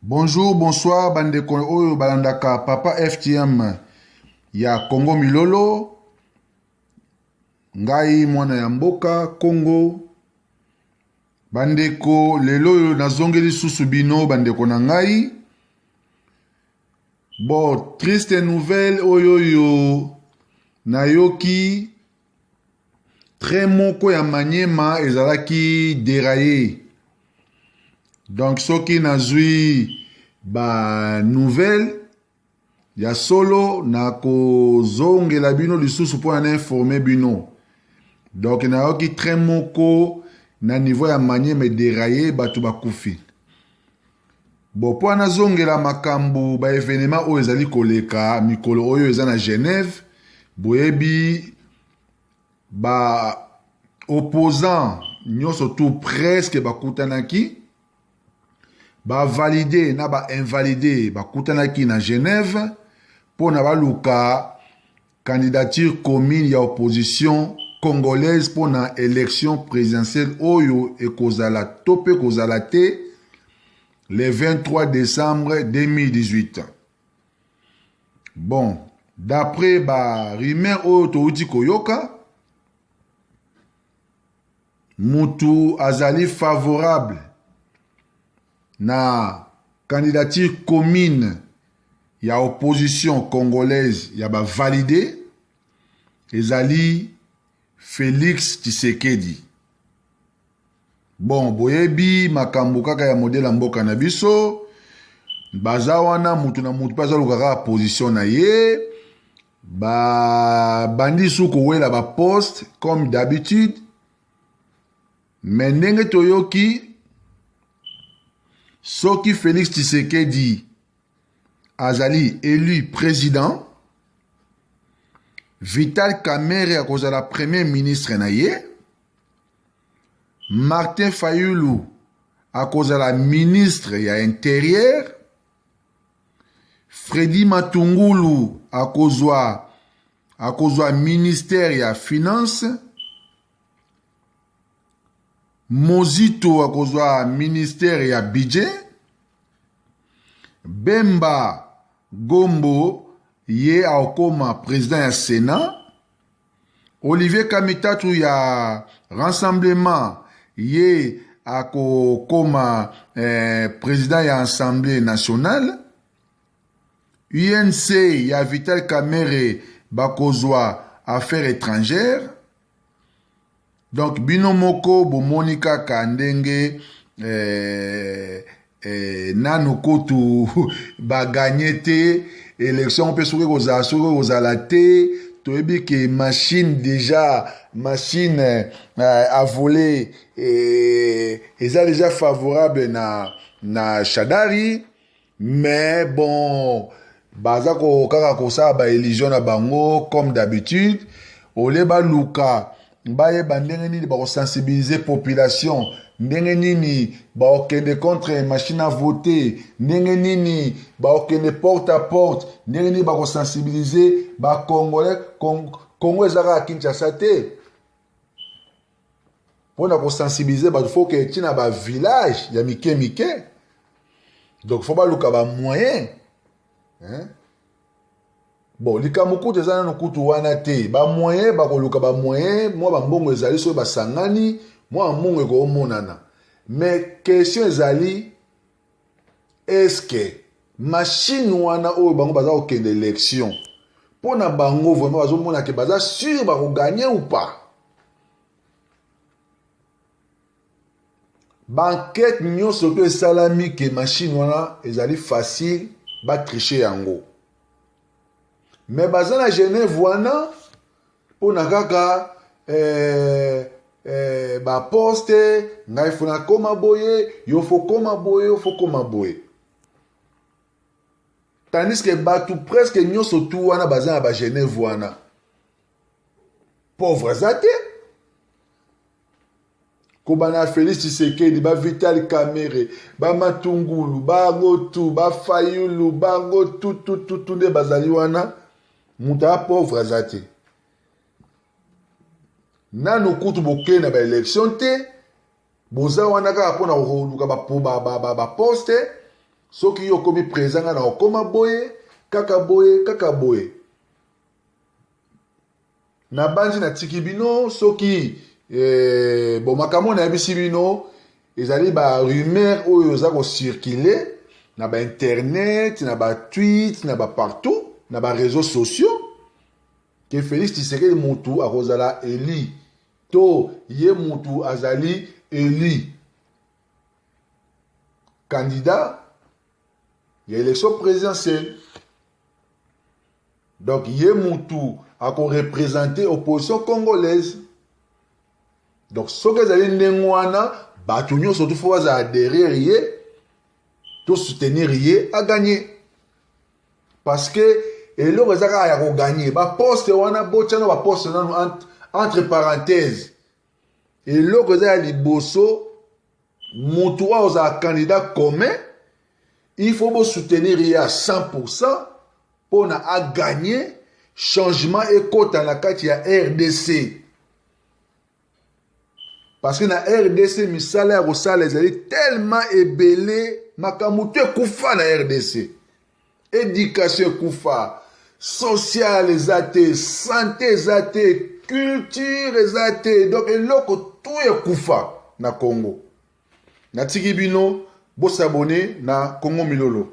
Bonjour, bonsoir bandeko oyo balandaka Papa FTM ya Congo Milolo. Ngai mwana ya mboka Congo. Bandeko lelo oyo nazongeli susu bino bandeko na ngai. Bon, triste nouvelle oyo oyo nayoki train moko ya maniema ezalaki deraye donc soki nazwi banouvelle ya solo nakozongela bino lisusu mpo na na informe bino donc nayoki train moko na niveau ya maniema ederaye bato bakufi Bon, mpo nazongela makambo ba evenema oyo ezali koleka mikolo oyo eza na Genève, boyebi ba opposants nyonso tout presque bakutanaki bavalide na bainvalide bakutanaki na Genève mpo na baluka Candidature commune ya opposition congolaise mpo na election présidentielle oyo ekozala to mpe kozala te le 23 décembre 2018. Bon, d'après ba rumeur oyo towuti koyoka Mutu azali favorable na candidature commune ya opposition congolaise ya ba valide ezali Felix Tshisekedi. Bon, boyebi makambo kaka ya modele ya mboka na biso baza wana mutu na mutu mpe azaluka kaka position na ye ba bandi su kowela ba poste comme d'habitude me ndenge toyoki soki félix tshisekedi azali élu président vital kamere akozala premier ministre na ye martin fayulu akozala ministre ya interieur Freddy Matungulu akozwa akozwa ministère ya finance Mozito akozwa ministère ya budget Bemba Gombo ye akokoma président ya Sénat Olivier Kamitatu ya rassemblement ye akokoma eh, president ya assemblée nationale UNC ya Vital Kamerhe bakozwa affaires étrangères donc bino moko bomoni kaka ndenge eh, eh, nano kutu baganye te election mpe soki kozala soki kozala te toyebi ke machine deja machine eh, a voler eh, eza deja favorable na, na shadari mais bon baza ko kaka kosala ba illusion na bango comme d'habitude olie baluka bayeba ndenge nini bakosensibilize population ndenge nini bakokende contre machine à voter ndenge nini bakokende porte à porte ndenge nini bakosensibilize bacongolais congo eza kaka kinshasa te mpona kosensibilize bato fo ke ti na bavillage ya mike mike donc fo baluka bamoyen bon likambo kutu eza nano kutu wana te bamoyen bakoluka bamoyen mwa bambongo ezali soki basangani mwa bambongo ekomonana mais question ezali eske mashine wana oyo bango baza kokende election mpo na bango vraimen bazomona ke baza sur bakoganye ou pas bankete nyonso to esalami ke mashine wana ezali facile batriche yango me baza na genève wana mpo na kaka eh, eh, baposte ngai fo nakoma boye yo fo koma boye yo fo koma boye tandis ke bato preske nyonso tu wana baza na bageneve wana pauvre aza te kobanda ya félix tshisekedi bavital kamere bamatungulu bango tu bafayulu bango tutututu nde bazali wana moto ya pauvre aza te nanu kutu bokei na baelection te boza wana kaka mpo na koluka baposte ba, ba, ba soki yo okomi présent ngai na okoma boye kaka boye kaka boye nabanzi natiki bino soki eh, bon makambo nayebisi bino ezali ba rumeur oyo eza kocircule na bainternet na batweet na bapartout na bareseau sociaux ke félix tshisekedi motu akozala eli to ye motu azali eli candidat ya élection présidentielle Donc ye mutu ako representer opposition congolaise. Donc soki ezali ndenge wana bato nyonso tu faut bazala derrière ye to soutenir ye a gagner. Parce que eloko eza kaka ya ko gagner ba poste wana botyana ba poste nanu entre parenthèse eloko eza ya liboso motu oyo ozala candidat commun il faut bosoutenir ye à 100% mpo na aganye changement ekota na kati ya rdc parce que na rdc misala ya kosala ezali tellement ebele makambo to ekufa na rdc Education ekufa, social eza te, sante eza te, culture eza te, donc eloko tout ekufa na Congo. Natiki bino bosabone na Congo Milolo.